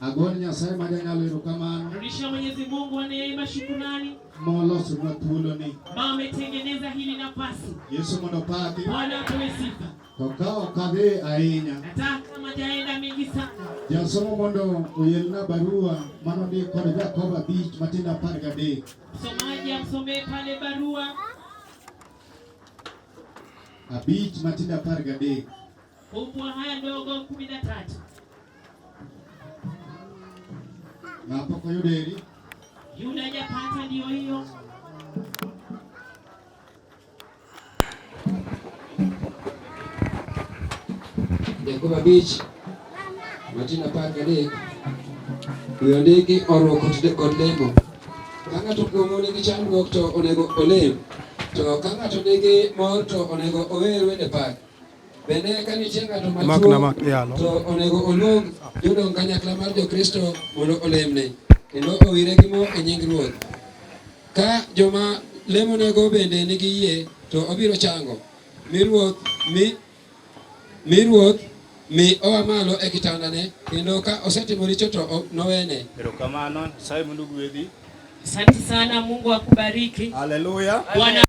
Agon Nyasaye ma janyalo erokamano. Rudishia Mwenyezi Mungu wa neema shukrani. Molosonwa thuoloni. Ma ametengeneza hili nafasi. Yesu mondo opaki. Bwana apewe sifa. To ka ok adhi ahinya. Hata kama jaenda mingi sana. Jasomo mondo oyelna barua mano ni kod Jakobo abich matindo apar gadek. Msomaji amsomee pale barua. Abich matindo apar gadek. Fungua haya ndogo kumi na tatu. Na hapo kwa Yuda ili. Yuda hajapata ndio hiyo. Jacoba Beach. Martina Park Lake. Huyo ndege oro kod lemo. Ka ng'ato kuomu nigi chandruok to onego olem. To ka ng'ato nigi mor to onego ower wende pak. Bende ka nitie ng'ato matuo to onego oluong jodong kanyakla mar Jokristo mondo olemne kendo owire gi mo e nying Ruoth. Ka joma lemonego bende nigi yie to obiro chango mi Ruoth mi mi Ruoth mi oa malo e kitandane kendo ka osetimo richo to nowene. Erokamano, Nyasaye mondo ogwedhi. Asante sana, Mungu akubariki. Haleluya. Bwana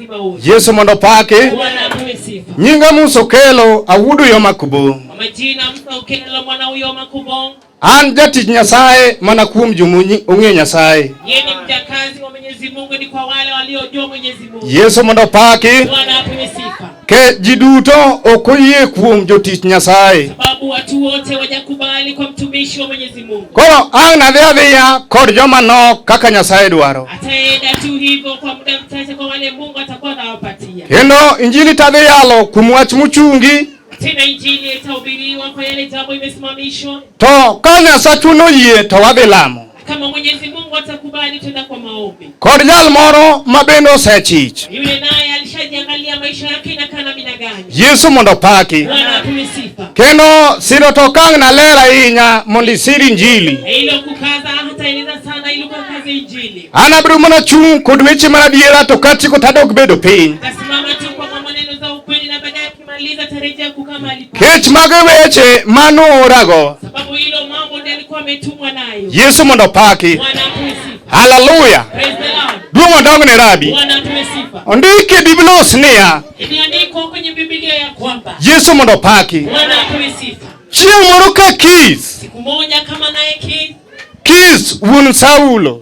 Yesu mondo paki nyinga musa okelo awudu yo makubo an jatich nyasaye mana kuom jomunyi ong'e nyasaye yesu mondo paki ke ji duto ok oyie kuom jotich nyasaye sababu watu wote wajakubali kwa mtumishi wa mwenyezi Koro ang' nadhi adhiya kod joma nok kaka Nyasaye dwaro. Kendo injili tadhi yalo kuom wach mochungi. To ka Nyasachu noyie to wadhi lamo. Kod jal moro ma bende osechich. Yule naye alishajiangalia maisha yake inakaa namna gani. Yesu mondo opaki. Bwana apewe sifa. Kendo siro to kang' naler ahinya mondo isir Injili. Ilo kukaza hata eleza sana ilo kukaza Injili. An abiro mana chung' kod weche mar adiera to kachiko tadok bedo piny. Kasimama Kech mag weche manorago. Yesu mondo opaki. Haleluya. Duong' odongne rabi. Ondiki e Biblos niya. Yesu mondo opaki. Chieng' moro ka kis. Kis wuon Saulo.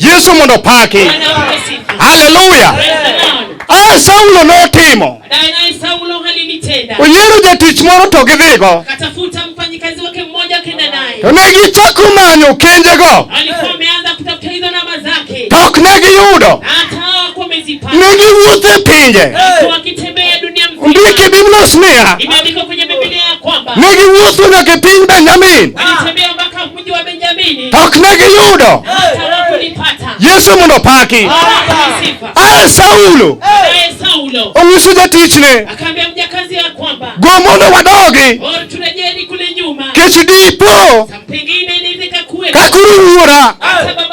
Yesu mondo paki. Haleluya. Ah, Saulo notimo. Oyiero jatich moro to gidhigo. To ne gichako manyo kenjego. To ok ne giyudo. Ne giwuotho e pinje. Ndiki Biblos niya. Ne giwuotho nyaka e piny Benjamin. ok ne giyudo Yesu mondo opaki. Aye Saulo onyiso jatichne go mondo wadogi kech dipo kakuru wuora